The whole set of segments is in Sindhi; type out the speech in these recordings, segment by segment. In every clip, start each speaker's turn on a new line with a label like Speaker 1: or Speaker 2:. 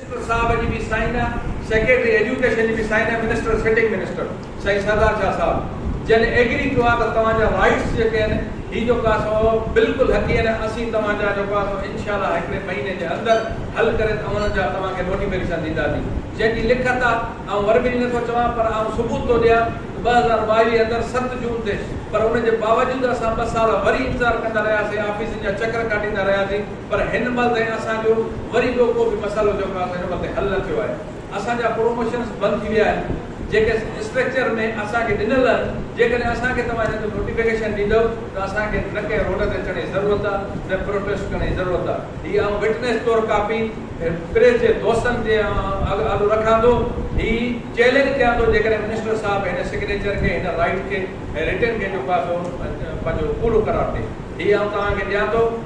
Speaker 1: منسٽر صاحب جي به سائين آ سيڪريٽري ايجوڪيشن جي به سائين آ منسٽر سٽنگ منسٽر سائين سردار شاھ صاحب جن ايگري ڪيو آ ته توهان جا رائيٽس جيڪي آهن هي جو ڪو آ سو بلڪل حقي آهن اسين توهان جا جو ڪو آ سو انشاء الله هڪڙي مهيني جي اندر حل ڪري اوهن جا توهان کي نوٽيفڪيشن ڏينداسين جنهن جي لکت آ آئون وربلي نٿو چوان پر آئون ثبوت ٿو ڏيان ته ٻه هزار ٻاويهه اندر ست جون تي پر ان جي باوجود اسان ٻه سال وري انتظار ڪندا رهياسين آفيسن جا چڪر ڪاٽيندا رهياسين پر هن مهل تائين اسان جو وري ٻيو ڪو به مسئلو جيڪو اسان جو ان مهل تائين حل نه ٿيو آهي. اسان جا پروموشنز بند ٿي ويا آهن، جيڪي اسٽرڪچر ۾ اسان کي ڏنل آهن، جيڪڏهن اسان کي توهان ان جو نوٽيفڪيشن ڏيندؤ ته اسان کي نه ڪنهن روڊ تي اچڻ جي ضرورت آهي، نه پروٽيسٽ ڪرڻ جي ضرورت آهي. هي آئون وٽنيس طور ڪاپي پريس جي دوستن جي آڏو رکان ٿو. هي چئلينج ڪيان ٿو جيڪڏهن منسٽر صاحب هن سگنيچر کي، هن رائيٽ کي ۽ رٽن کي جيڪو آهي سو پنهنجو پورو قرار ڏي. هي آئون توهان کي ڏيان ٿو.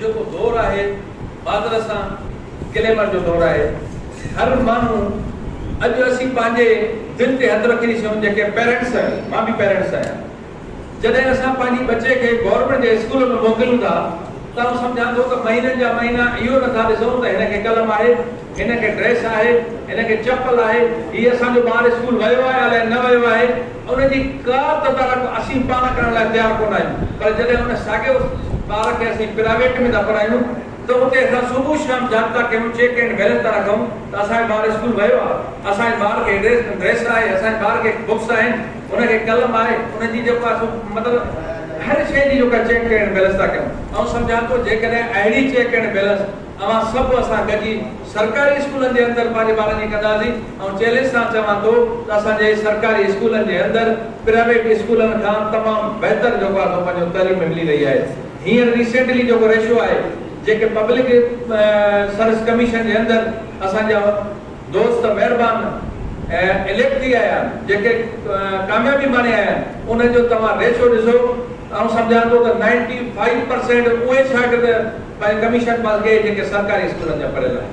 Speaker 1: جيڪو دور آهي بادل سان گليمر جو دور آهي هر ماڻهو اڄ اسين پنهنجي دل تي هٿ رکي ڏسيون جيڪي پيرينٽس آهيون مان به پيرينٽس آهيان جڏهن اسان پنهنجي ٻچي کي گورنمينٽ جي اسڪول ۾ موڪليون ٿا ته آئون سمجهان ٿو ته مهينن جا مهينا اهو نٿا ڏسون ته هن کي قلم آهي هن کي ڊريس آهي، هن کي چپل آهي، هي اسان جو ٻار اسڪول ويو آهي الائي نه ويو آهي، ان جي ڪا تدارڪ اسين پاڻ ڪرڻ لاء تيار ڪونه آهيون، پر جڏهن ان ساڳئي اس ٻار کي اسين پرائيويٽ ۾ ٿا پڙهايون ته اتي اسان صبح شام جابطا ڪيون، چيڪ اينڊ بيلنس ٿا رکون ته اسان جو ٻار اسڪول ويو آهي، اسان جي ٻار کي ڊريس آهي، اسان جي ٻار کي بڪس آهن، ان کي قلم آهي، ان جي جيڪو آهي سو مطلب هر شيء جي جيڪا چيڪ اينڊ بيلنس ٿا ڪيون. آئون سمجهان ٿو جيڪڏهن اهڙي چيڪ اينڊ بيلنس اوهان سڀ اسان گڏجي سرڪاري اسڪولن جي اندر پنهنجي ٻارن جي ڪنداسين آئون چئلينج سان چوان ٿو ته اسان جي سرڪاري اسڪولن جي اندر پرائيويٽ اسڪولن کان تمام بهتر جيڪو آهي سو پنهنجو تعليم ملي رهي آهي هينئر ريسينٽلي جيڪو ريشو آهي جيڪي پبلڪ سروس ڪميشن جي اندر اسان جا دوست مهربان اليڪٽ ٿي آيا آهن جيڪي ڪاميابي ماڻي آيا آهن انهن جو توهان ريشو ڏسو آئون سمجهان ٿو ته نائنٽي فائيو پرسينٽ اهي شاگرد پنهنجي ڪميشن پاس ڏئي جيڪي سرڪاري اسڪولن جا پڙهيل آهن.